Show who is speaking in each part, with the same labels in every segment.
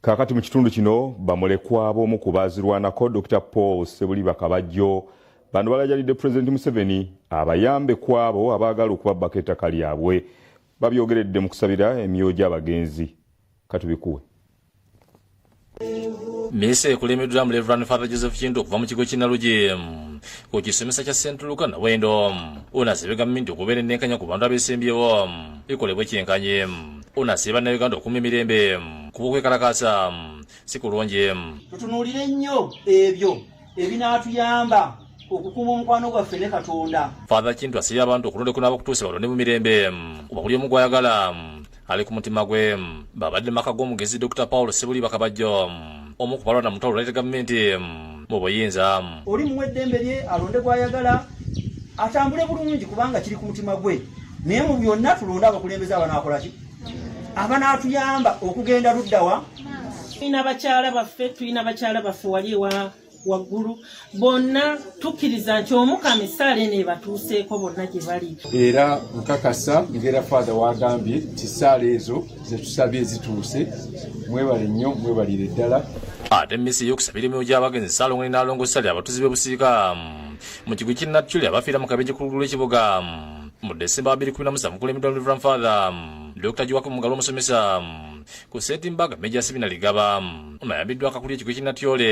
Speaker 1: kakati mu kitundu kino bamulekwa b'omu ku baazirwanako dr paul sebuliba kabajjo bano balajalidde pulezidenti museveni abayambe ku abo abaagala okubabbako ettaka lyabwe babyogeredde mu kusabira emyoyo gy'abagenzi katubikuwe
Speaker 2: misa ekulemedwamu reverand father joseph kintu okuva mu kigo kinalugi ku kisomesa kya st luka nawendo ono azibegamye nti okubeera ennenkanya ku bantu abesimbyewo ekolebwe kyenkanye Ono asabye bannayuganda okukuuma emirembe kuba okwekalakaasa si kulungi. Tutunuulire nnyo
Speaker 3: ebyo ebinaatuyamba okukuuma omukwano gwaffe ne Katonda. Father Kintu asabye
Speaker 2: abantu okulonda okunaaba okutuuse balonde mu mirembe kuba buli omu gwayagala ali ku mutima gwe. Babadde mu maka g'omugezi Dr. Paul Ssebuliba Kabajjo. omu ku balonda mutwalo oleta gavumenti mm, mu buyinza oli muwa eddembe
Speaker 3: lye alonde gwayagala atambule bulungi kubanga kiri ku mutima gwe naye mu byonna tulonde abakulembeze abanakolaki abanaatuyamba okugenda luddawa tulina
Speaker 4: bakyala baffe tulina bakyala baffe wali ewa waggulu bonna tukkiriza nti omukama essaala eno ebatuuseeko bonna gye bali era nkakasa
Speaker 5: ngera faatha wagambye nti essaala ezo zetusabye zituuse mwebale nnyo mwebalire ddala ate misi
Speaker 2: y'okusabira emyoyo gy'abagenzi saalongoni n'alongo sali abatuzi b'ebusiika mu kigo ky'e natchuli abafiira mu kabenje kulugulu lw'ekibuga mu desemba abiri kumi na musanvu kulemedwa reverend father dr jiwako mugalo omusomesa ku setimbaga meja sibina ligaba nayabiddwa akakulya ekigo ky'e natyole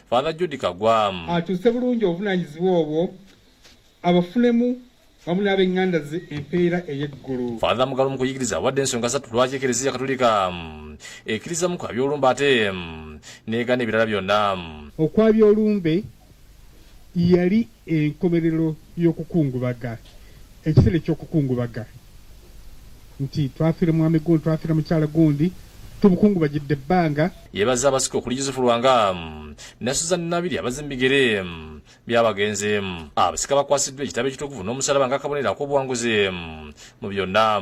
Speaker 2: father judi kagwamu akyuse bulungi
Speaker 6: obuvunanyizibwa obwo abafunemu wamu n'abenganda ze empeera ey'eggulu father mugalu mu kuyigiriza
Speaker 2: awadde ensonga satu lwaki ekereziya katulika mm, ekkirizamu kwa byolumba ate mm, negana ebirala byonna mm. okwa byolumbe
Speaker 6: yali enkomerero y'okukungubaga ekiseera eky'okukungubaga nti twafira mwami gundi twafira mukyala gundi tubukungubagidde ebbanga yebaza abasika okuli
Speaker 2: yusufu lwanga ne suzan nabiri abazi mubigere byabagenzi abasika bakwasiddwa ekitabo ekitukuvu n'omusalaba nga akabonero ak'obuwanguzi mu byonna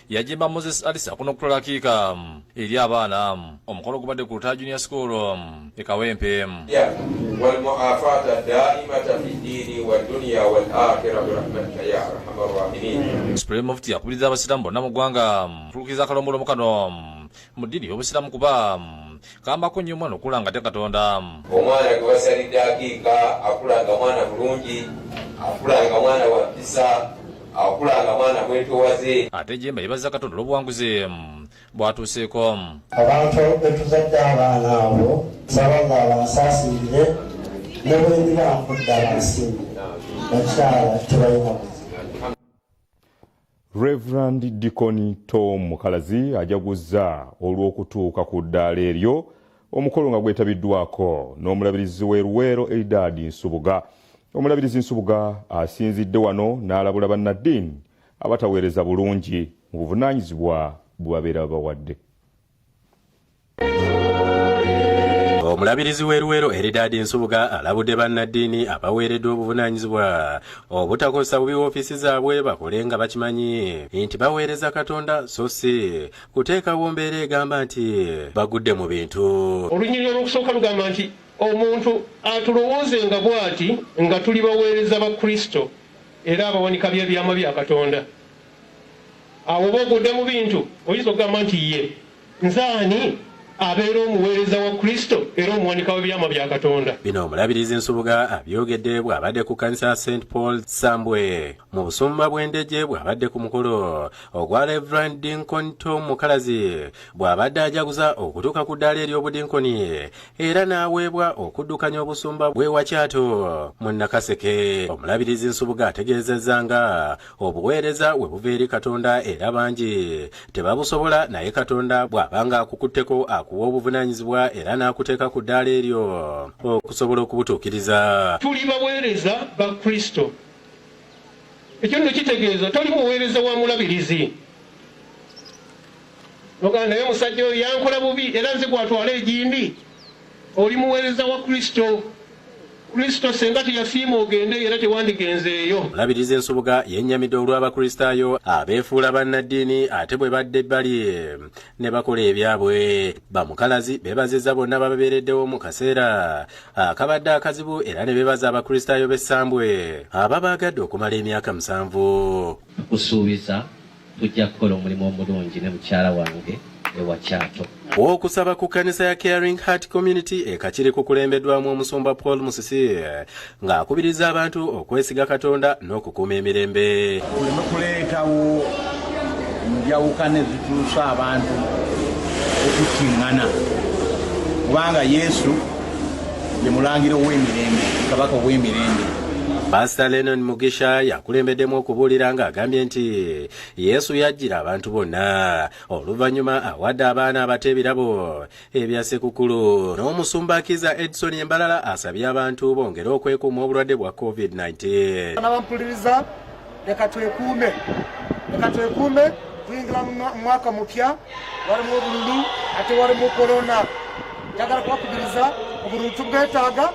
Speaker 2: yajemba moses alisa kuno kutwala akiika mm, eri abaana mm, omukolo gubadde ku lutaya junior school mm, e kawempe
Speaker 7: supreme mufti yakubiriza
Speaker 2: abasiraamu bonna mu ggwanga kutulukiza akalombolombo kano mu ddiini y'obusiraamu kuba kambako nnyo omwana okula nga te katonda omwana gwe
Speaker 7: basalidde akiika akula nga mwana mulungi akula nga mwana wa mpisa akula nga mwana mwetowaze ate jemba yebaza
Speaker 2: katonda olw'obuwanguzi bwatuuseeko abantu
Speaker 8: betuzadde abaana abo nsaba nga abansaasiirire ne bwendiba nkudda bansimbi bakyala tebalina Reverand
Speaker 1: Deacon Tom Mukalazi ajaguzza olw'okutuuka ku ddaala eryo omukolo nga gwetabiddwako n'omulabirizi w'e Luweero Eridadi Nsubuga. Omulabirizi Nsubuga asinzidde wano n'alabula bannaddiini abataweereza bulungi mu buvunaanyizibwa bwe babeera babawadde.
Speaker 9: Omulabirizi w'e Luwero Eridaadi Nsubuga alabudde bannaddiini abaweereddwa obuvunaanyizibwa obutakozesa bubi woofiisi zaabwe bakole nga bakimanyi nti baweereza Katonda so si kuteekawo mbeera egamba nti bagudde mu bintu. Olunyiriri olw'okusooka
Speaker 10: lugamba nti omuntu atulowooze nga bw'ati nga tuli baweereza ba Kristo era abawanika by'ebyama bya Katonda. awo oba ogudde mu bintu oyinza okugamba nti ye nzaani abeera omuweereza wa kristo era omuwanika w'ebyama bya katonda bino omulabirizi
Speaker 9: nsubuga abyogedde bw'abadde ku kanisa ya st paul sambwe mu busumba bw'endege bw'abadde ku mukolo ogwa reverand dinkon tom mukalazi bw'abadde ajaguza okutuuka ku ddaala ery'obudinkoni era n'aweebwa okuddukanya obusumba bw'ewakyato mu nakaseke omulabirizi nsubuga ategeezezza nga obuweereza we buva eri katonda era bangi tebabusobola naye katonda bw'abanga akukutteko akuwa obuvunaanyizibwa era n'akuteeka ku ddaala eryo okusobola okubutuukiriza tuli baweereza
Speaker 10: ba kristo ekyo nno kitegeeza toli muweereza wa mulabirizi nogaa naye omusajja oyo yankola bubi era nze gwatwala egindi Oli muweereza wa Kristo. Kristo senga teyasiima ogende era tewandigenzeeyo. Mulabirizi Nsubuga
Speaker 9: yennyamidde olw'Abakristaayo abeefuula bannaddiini ate bwe badda ebbali ne bakola ebyabwe. Bamukalazi beebazizza bonna bababeereddewo mu kaseera akabadde akazibu era ne beebaza Abakristaayo b'essambwe ababaagadde okumala emyaka musanvu. Tukusuubiza
Speaker 11: Tujja kukola omulimu omulungi ne mukyala wange ewa Kyato. Okusaba ku
Speaker 9: kkanisa ya Caring Heart Community e Kakiri kukulembeddwamu omusumba Paul Musisi ng'akubiriza abantu okwesiga Katonda n'okukuuma emirembe. Tuleme kuleetawo
Speaker 12: njawukana ezituusa abantu okukingana kubanga Yesu ye mulangira ow'emirembe kabaka ow'emirembe pasita
Speaker 9: lenon mugisha yakulembeddemu okubuulira ng'agambye nti yesu yajjira abantu bonna oluvannyuma awadde abaana abato ebirabo ebya sekukulu n'omusumba kiza edison embalala asabye abantu bongere okwekuuma obulwadde bwa covid-19
Speaker 13: leka twekuume leka twekuume tuyingira mu mwaka mupya walimu obululu ate walimu korona njagala kubakubiriza obululu tubwetaaga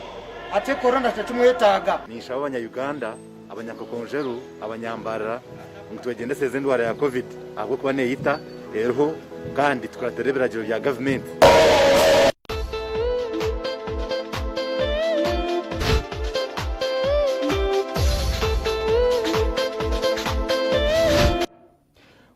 Speaker 13: ate korona tetumwetaaga ninsaba abanya uganda
Speaker 14: abanyakakonjeru abanyambarira ngu twegendeseza endwara ya covid ahabw'okuba neeyita eriho kandi tukuratira ebiragiro bya gavumenti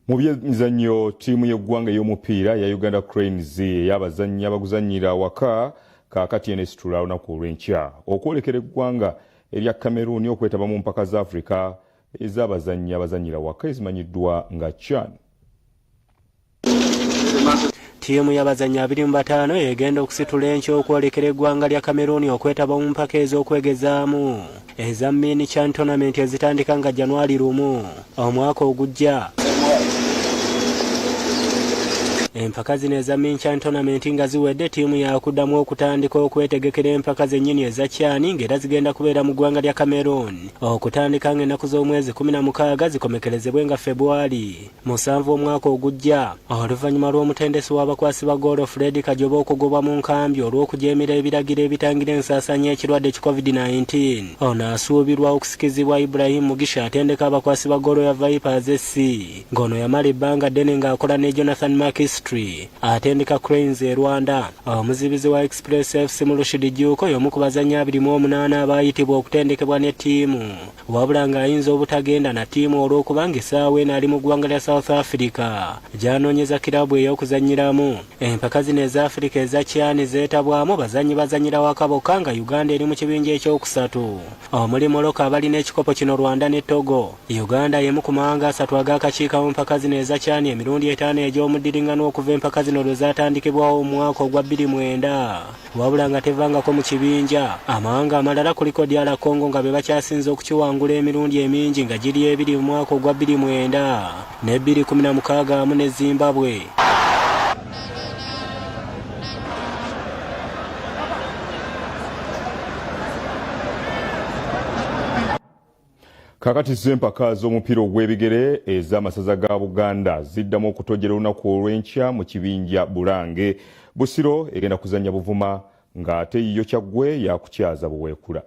Speaker 1: mu byemizannyo ttiimu y'eggwanga ey'omupiira ya uganda cranes ey'abazannyi abaguzannyira awaka kaakati eno esitula olunaku olw'enkya okwolekera eggwanga erya cameroon okwetaba mu mpaka za africa ez'abazannyi abazannyira waka ezimanyiddwa nga chan ttiimu
Speaker 15: y'abazannyi abiri mu bataano egenda okusitula enkya okwolekera eggwanga lya kameruuni okwetaba mu mpaka ez'okwegezaamu eza min chan tonamenti ezitandika nga janwali lumu omwaka ogujja empaka zino eza minchan tonamenti nga ziwedde ttiimu yakuddamu okutandika okwetegekera empaka zennyini eza kyani ng'era zigenda kubeera mu ggwanga lya cameroon okutandika ng'ennaku z'omwezi kumi na mukaaga zikomekerezebwe nga febwali musanvu omwaka ogujja oluvannyuma lw'omutendesi w'abakwasi ba goolo fred kajoba okugobwa mu nkambi olw'okujeemera ebiragiro ebitangira ensaasaanya ekirwadde ki covid-19 ono asuubirwa okusikizibwa ibrahim mugisha atendeka abakwasi ba goolo ya vipers sc ng'ono yamala ebbanga ddene ng'akola ne jonathan makistry atendeka Cranes e Rwanda. Omuzibizi wa Express FC Mulushidi Juuko y'omu ku bazannyi abiri mu omunaana abaayitibwa okutendekebwa ne ttiimu wabula ng'ayinza obutagenda na ttiimu olw'okubanga essaawa eno ali mu ggwanga lya South Africa gy'anoonyeza kiraabu ey'okuzannyiramu. Empaka zino eza Afirika eza CHAN zeetabwamu bazannyi bazannyira waka bokka nga Uganda eri mu kibinja ekyokusatu. omuli Morocco abalina ekikopo kino Rwanda ne Togo. Uganda y'emu ku mawanga asatu ag'akakiika mu mpaka zino ezakyani emirundi etaano egy'omuddiringano okuva empaka zino lwe zaatandikibwawo omwaka ogwa bbiri mwenda wabula nga tevangako mu kibinja amawanga amalala kuliko DR Congo nga be bakyasinze okukiwangula emirundi emingi nga giri ebiri mu mwaka ogwa bbiri mwenda ne bbiri kumi na mukaaga wamu ne Zimbabwe.
Speaker 1: kakati zo empaka z'omupiira ogw'ebigere ez'amasaza ga buganda ziddamu okutojera olunaku olw'enkya mu kibinja bulange busiro egenda kuzannya buvuma ng'ate yiyo kyaggwe yakukyaza buweekula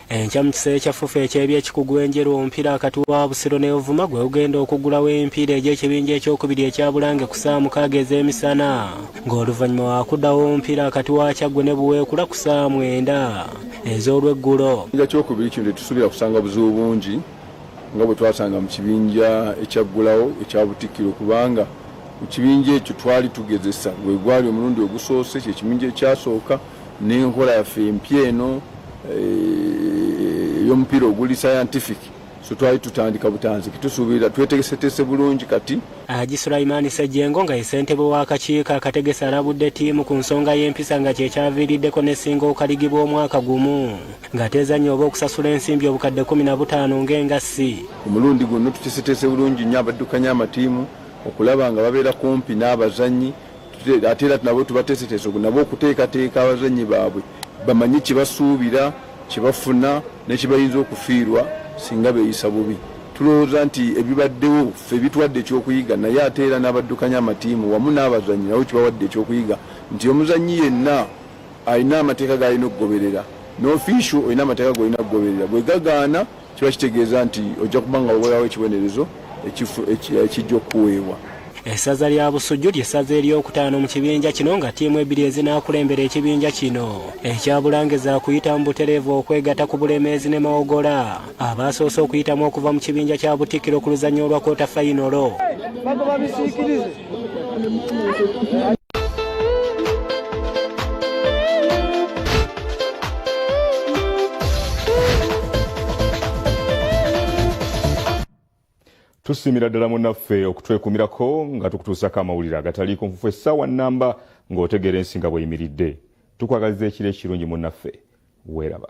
Speaker 15: enkya mu kiseera ekyafufa eky'ebyekikugu enjeru omupiira wakati wa busiro ne ovuma gwe ugenda okuggulawo emipiira egy'ekibinja ekyokubiri ekya bulange ku saawa mukaaga ez'emisana ng'oluvannyuma wakuddawo omupiira wakati wa kyaggwe ne buweekula ku saawa mwenda ez'olweggulo ekibinja kyokubiri kino
Speaker 5: tetusuubira kusanga buzibu bungi nga bwe twasanga mu kibinja ekyaggulawo ekya butikkiro kubanga Mu kibinja ekyo twali tugezesa, gwe gwali omulundi ogusoose, kye kibinja ekyasooka n'enkola yaffe empya eno eh, ey'omupiira oguli scientific so twali tutandika butanziki tusuubira twetegesetese bulungi kati haji sulaimaani
Speaker 15: sejjengo nga ye ssentebe w'akakiiko akategesa alabudde ttiimu ku nsonga y'empisa nga kye kyaviiriddeko n'essinga okaligibwa omwaka gumu ng'ateezannya oba okusasula ensimbi obukadde kumi na butaano ng'engassi omulundi guno
Speaker 5: tutesetese bulungi nnyo abaddukanya amatiimu okulaba nga babeera kumpi n'abazannyi ate era nabo tubateeseteese nabo okuteekateeka abazannyi baabwe bamanye kyebasuubira kyebafuna nekibayinza okufiirwa singa beeyisa bubi tulowooza nti ebibaddewo fe bituwadde ekyokuyiga naye ate era n'abaddukanya amatiimu wamu n'abazannyi nabo kibawadde ekyokuyiga nti omuzannyi yenna alina amateeka galina okugoberera nofiisio olina amateeka golina okugoberera bwegagaana kiba kitegeeza nti ojja kuba nga wewerawo ekibonerezo ekijja okuweebwa essaza lya
Speaker 15: busujju ly'essaza eryokutaano mu kibinja kino nga ttiimu ebbiri ezinaakulembera ekibinja kino ekya bulange zaakuyita mu butereevu okwegata ku bulemeezi ne mawogola abaasoose okuyitamu okuva mu kibinja kya butikiro ku luzannya olwa kota fayinolo
Speaker 1: tusiimira ddala munaffe okutwekumirako nga tukutuusako amawulire agataliiko nfufu essaawa nnamba ng'otegeera ensi nga bweyimiridde tukwagaliza ekiro ekirungi munaffe weeraba